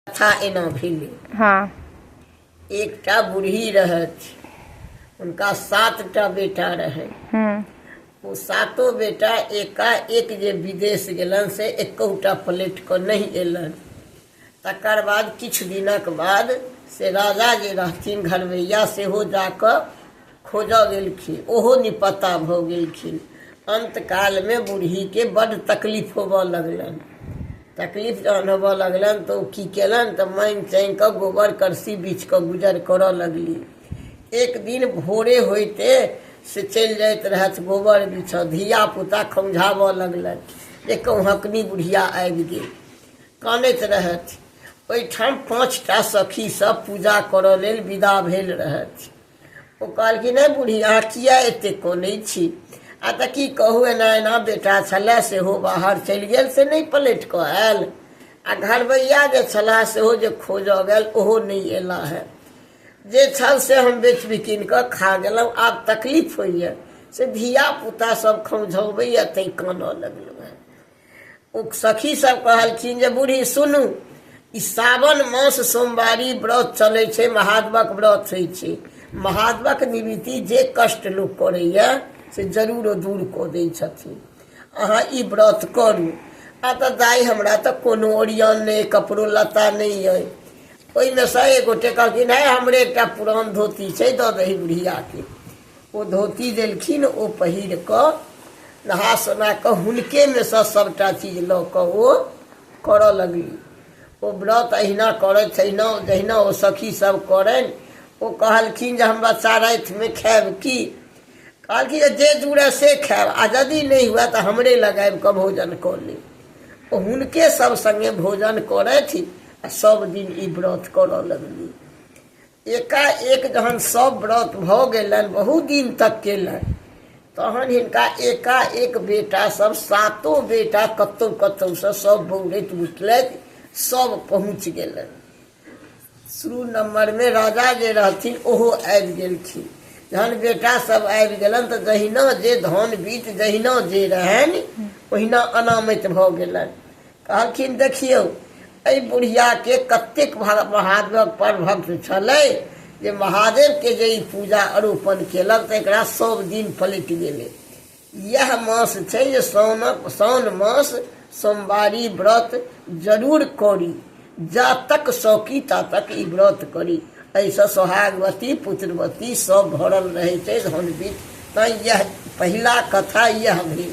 कथा एना भेलै हाँ एकटा बूढ़ी रहथि हुनका सातटा बेटा रहनि हम्म, ओ सातो बेटा एका एक जे विदेश गेलनि से एकौटा प्लेट कऽ नहि एलनि तकर बाद किछु दिनक बाद से राजा जे रहथिन घरवैया सेहो जा कऽ खोजऽ गेलखिन ओहो निपत्ता भऽ गेलखिन अन्तकालमे बूढ़ीके बड्ड तकलीफ होबऽ लगलनि तकलीफ जहन होबऽ लगलनि तऽ ओ की केलनि तऽ मानि चानि कऽ गोबर करसी बीछ कऽ गुजर करऽ लगली एक दिन भोरे होइते से चलि जाइत रहथि गोबर बीछऽ धियापुता खौझाबऽ लगलनि जे कौहकनी बुढ़िया आबि गेल कानैत रहथि ओहिठाम पाँच टा सखीसभ पूजा करऽ लेल विदा भेल रहथि ओ कहलखिन नहि बूढ़ी अहाँ किया एते कोने छी आ तऽ की कहू एना एना बेटा छलए सेहो बाहर चलि गेल से नहि पलटि कऽ आयल आ घरबैया जे छलाह सेहो जे खोजऽ गेल ओहो नहि एला है जे छल से हम बेच बिकिन कऽ खा गेलहुँ आब तकलीफ होइए से धिया पुता सब खौझबैए तैँ कानऽ लगलहुँ ओ सखी सब कहलखिन जे बूढ़ी सुनू ई सावन मास सोमवारी व्रत चलै छै महादेवक व्रत होइ छै महादेवक निवृत्ति जे कष्ट लोक करैए से जरूर ओ दूर कऽ दै छथिन अहाँ ई व्रत करू आ तऽ दाइ हमरा तऽ कोनो ओरियन नहि कपड़ो लत्ता नहि अइ ओहिमे सँ एक गोटे कहलखिन है हमरे एकटा पुरान धोती छै दऽ दही बुढ़ियाके ओ धोती देलखिन ओ पहिर कऽ नहा सोना कऽ हुनकेमे सँ सभटा चीज लऽ कऽ ओ करऽ लगली ओ व्रत अहिना करैत तहिना जहिना ओ सखी सब करनि ओ कहलखिन जे हम बच्चा रातिमे खायब की कहलखिन जे जे जुड़े से खायब आ यदि नहि हुए तऽ हमरे लग आबि कऽ भोजन कऽ लेब ओ हुनके सब सङ्गे भोजन करथि आ सब दिन ई व्रत करऽ लगली एकाएक जहन सब व्रत भऽ गेलनि बहुत दिन तक केलनि तहन हिनका एकाएक बेटा सब सातो बेटा कतौ कतौ से सब बौड़ैत उठलथि सब पहुँच गेलनि शुरू नंबर में राजा जे रहथिन ओहो आबि गेलखिन जहन बेटा सब आबि गेलनि तऽ जहिना जे धन बीत जहिना जे रहनि ओहिना अनामति भऽ गेलनि कहलखिन देखियौ एहि बुढ़िया के कतेक महादेव पर भक्त छल जे महादेव के जे ई पूजा अरूपन केलक तऽ एकरा सब दिन पलटि गेलै इएह मास छै जे साउनक साउन मास सोमवारी व्रत जरूर करी जा तक सौकी ता तक ई व्रत करी एहिसँ सोहागवती पुत्रवती सब भरल रहै छै धन बीत तैँ इएह पहिला कथा इएह भेल